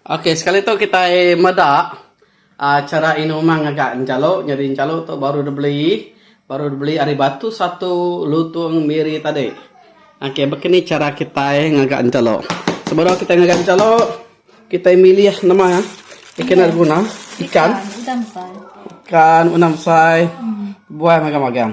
Ok sekali tu kitai meda aaa chara inumang ngaga enchalu nyadi enchalu tu baru dibeli baru dibeli ari batu satu lutung miri tadi. Ok meh ken ni chara kitai ngaga enchalu. Sebedau kitai ngaga enchalu kitai milih nama ikan nya beguna ikan ikan udang besai buai magang-magang.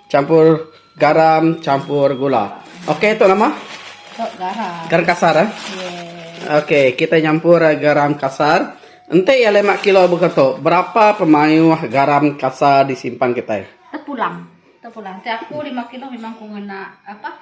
Campur garam, campur gula. Okey tu nama? Tu garam. Garam kasar eh? Yeah. Okey, kita nyampur eh, garam kasar. Enti ya 5 kilo buka tu, berapa pemayuh garam kasar disimpan kita? Tepulang. Tepulang. Ti aku 5 kilo memang ku ngena apa?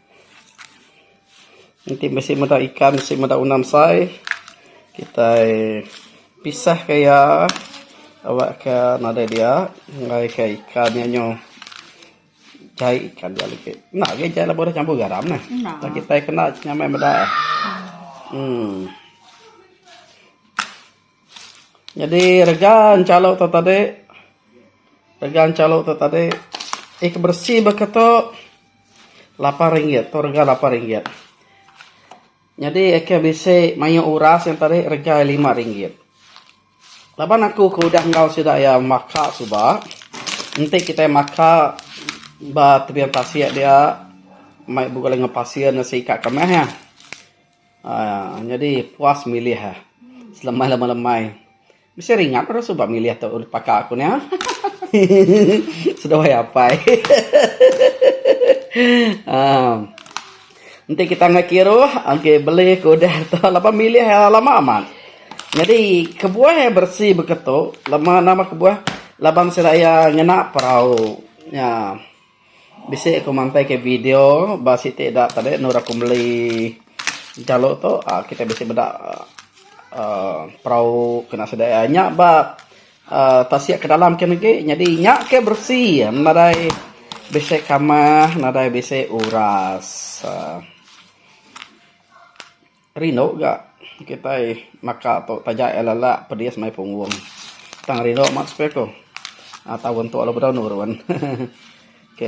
Enti bisi meda ikan bisi meda unam sai kitai pisah ka iya aba ka nadai dia enggai ka ikan nya nyu jai ikan dia legi. Enda agi jai laban udah campur garam neh. Tang kitai kena nyamai meda eh. Uhh. Nyadi rega enchalu tu tadi rega enchalu tu tadi ih ke beresi baka tu lapan ringgit tu rega lapan ringgit. Nyadi ih ke bisi maioh nya uras nya tadi rega iya lima ringgit. Laban aku ke udah enggau sida iya maka suba enti kitai maka ba tebian tasik dia mai bala ngepasir ne singkang ke meh. Aaa nyadi puas milih aaa selemai lama lemai bisi ringat ira suba milih tu urip paka ku nya hehehe seduai apai hehehe aaa enti kita ngagai kiruh agi beli ke udah tu laban milih lama amat nyadi kebuah iya beresi beketu lama nama kebuah laban sida iya ngena perau nya. Bisi aku mantai ke video ba siti ida tadi nur aku meli kalo tu uhh kita bisi meda uhh perau kena sida iya. Nya ba uhh tasik ke dalam ke negi nyadi nya ke beresi nadai bisi kamah nadai bisi uras uhh. Rindu ga kitai maka tu taja iya lala pedis mai punggung tang rindu amat supaya ku taun tu lalu bedau nurun ok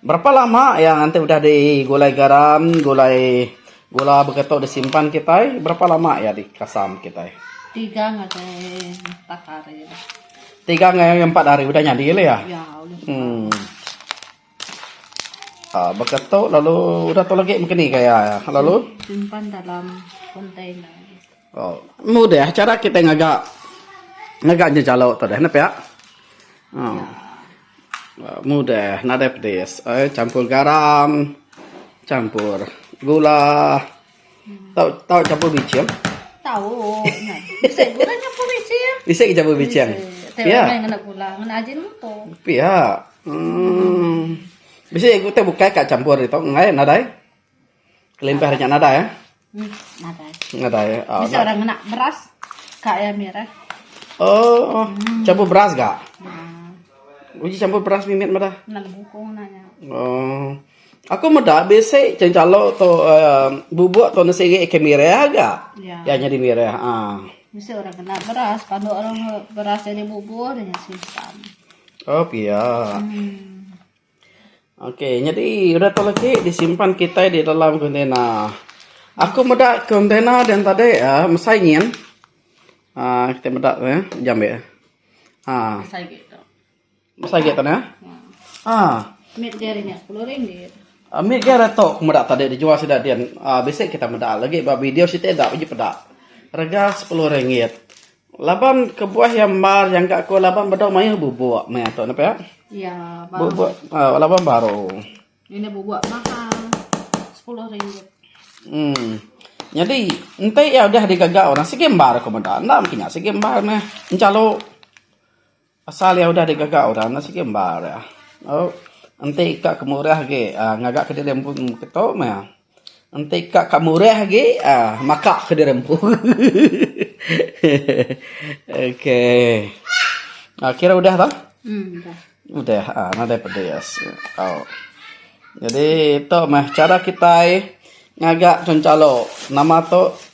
berapa lama iya nganti udah di gulai garam gulai gula baka tu disimpan kitai berapa lama iya dikasam kitai tiga ngai empat hari udah nyadi la iya uhh. Baka tu lalu udah tu lagi mungkin agi gaya iya lalu. Simpan dalam container. Meh udah chara kitai ngaga ngaga ngejalau tu deh pia. Meh udah nadai pedis champur garam champur gula. Tau tau campur bichim? Tau nya. Bisi gula nyampur bichim. Bisi ke campur bichim? Bisi. Pia. Main ngena gula, ngena ajin muto. Pia. Hmm. Bisi aku te bukai ka campur ito enggai nadai. Kelimpah nya nadai eh. Hmm, nadai. Nadai. Oh, Bisi orang ngena beras ka ya mir eh. Oh, hmm. campur beras ga? Nah. Uji campur beras mimit mada. Nang bukong nanya. Oh. Aku meda bisi calo tu bubuk tu ne siri ke mirih ga. Iya nyadi mirih uhh. Bisi orang kena beras panu orang beras nyadi bubur nya susah. Oh pia. Ok nyadi udah tu legi disimpan kitai di dalam kontena. Aku meda kontena den tadi uhh mesai nyin uhh kitai meda ne jambi ne uhh. Besai agi tanah. Ah. Mit dia ringat sepuluh ringgit. Ah, mit dia retok aku meda tadi dijual sida din. Ah, bisi kita meda lagi ba video siti enda biji peda. Rega sepuluh ringgit. Laban kebuah iya embar nyangka aku laban bedau mayuh bubuk meh tu nah pia. Iya, baru. Bubuk ah, laban baru. Ini bubuk mahal. Sepuluh ringgit. Hmm. Nyadi enti iya udah digaga orang sigi embar aku meda. Enda mungkin nya sigi embar meh enchalu. Pasal iya udah digaga orang enda sigi embar iya. Enti ka ke murah agi uhh ngaga ke diri empu ke tu meh iya. Enti ka ke murah agi uhh maka ke diri empu hehehe okay uhh kira udah bah udah uhh nadai pedis tau. Jadi tu meh cara kitai ngaga calo nama tu.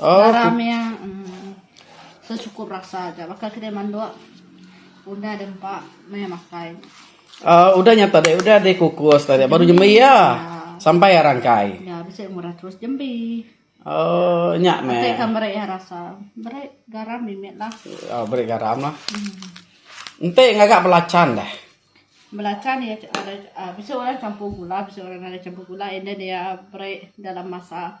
Garam iya secukup rasa aja baka kitai mandok udah deh empa meh makai. Aaa udah nyata deh udah deh kukus tadi baru jembi iya sampai iya rangkai. Iya bisi murah terus jembi. Aaa nya meh. Atai ka meri iya rasa meri garam mimit lah. Aaa meri garam lah. Enti ngaga belacan deh. Belacan iya bisi orang campur gula bisi orang enda campur gula and then iya meri dalam masa.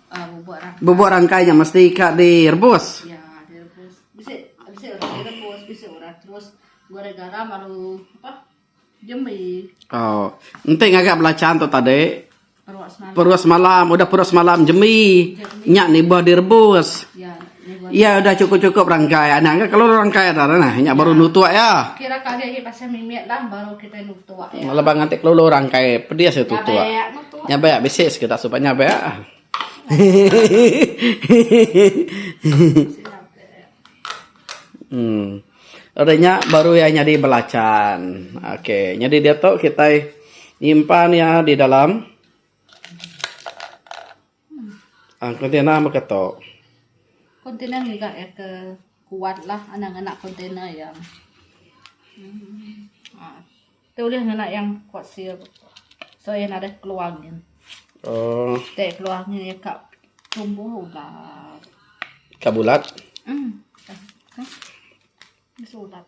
Bubuk rangkai nya mesti ka direbus. Aw. Enti ngaga belacan tu tadi perut semalam udah perut semalam jembi nya nibah direbus. Iya udah cukup-cukup rangkai anang ke kalau rangkai dah dah nah nya baru nutuk iya. Kira kali agi pasal mimit lah baru kitai nutuk iya. Lebuh nganti kelulu rangkai pedis iya tutuk. Nya ba iya bisi sekeda suba nya ba iya. Uhh. Ari nya baru iya nyadi belacan. Ok nyadi diatu kitai nyimpan iya di dalam. Kontainer mega tu. Kontainer mega iya ke kuat lah anak ngena kontainer iya. Tu ulih ngena yang kuat sil sebab iya nadai keluar angin. Ti keluar angin iya ka tumbuh ulat. Ka bulat? Bisi ulat.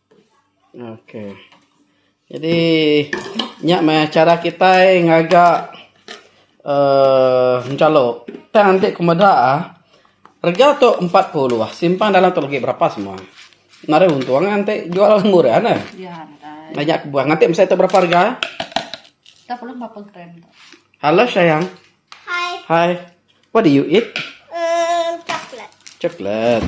Ok jadi nya mah chara kitai ngaga uhh enchalo tang enti ku meda rega tu empat puluh simpan dalam tu lagi berapa semua narai untung enti jual murah ne meh nya kebuah enti meh siti berapa rega Hello sayang hi what do you eat chocolate.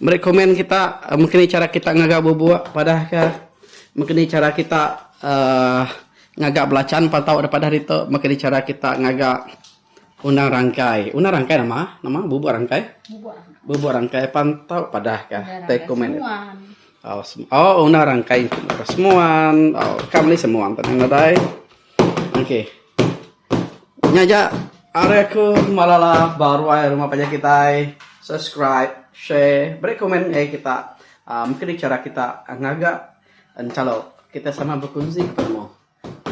Meri komen kita mengkini kita chara ngaga bubuk padah ke mengkini chara kita uhh ngaga belachan patau da padah ditu mengkini chara kita ngaga undang rangkai. Undang rangkai nama nama bubuk rangkai bubuk rangkai patau padah ka tai komen uhh undang rangkai semua uhh ka meli semua anu dai. Okey. Nya aja are aku malala baru ai rumah panjai kitai. Subscribe, share, beri komen ngai kita. Uh, mungkin ni cara kita ngaga encalo kita sama berkunzi ke penemu.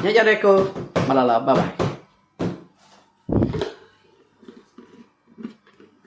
Nya aja are aku malala. Bye bye.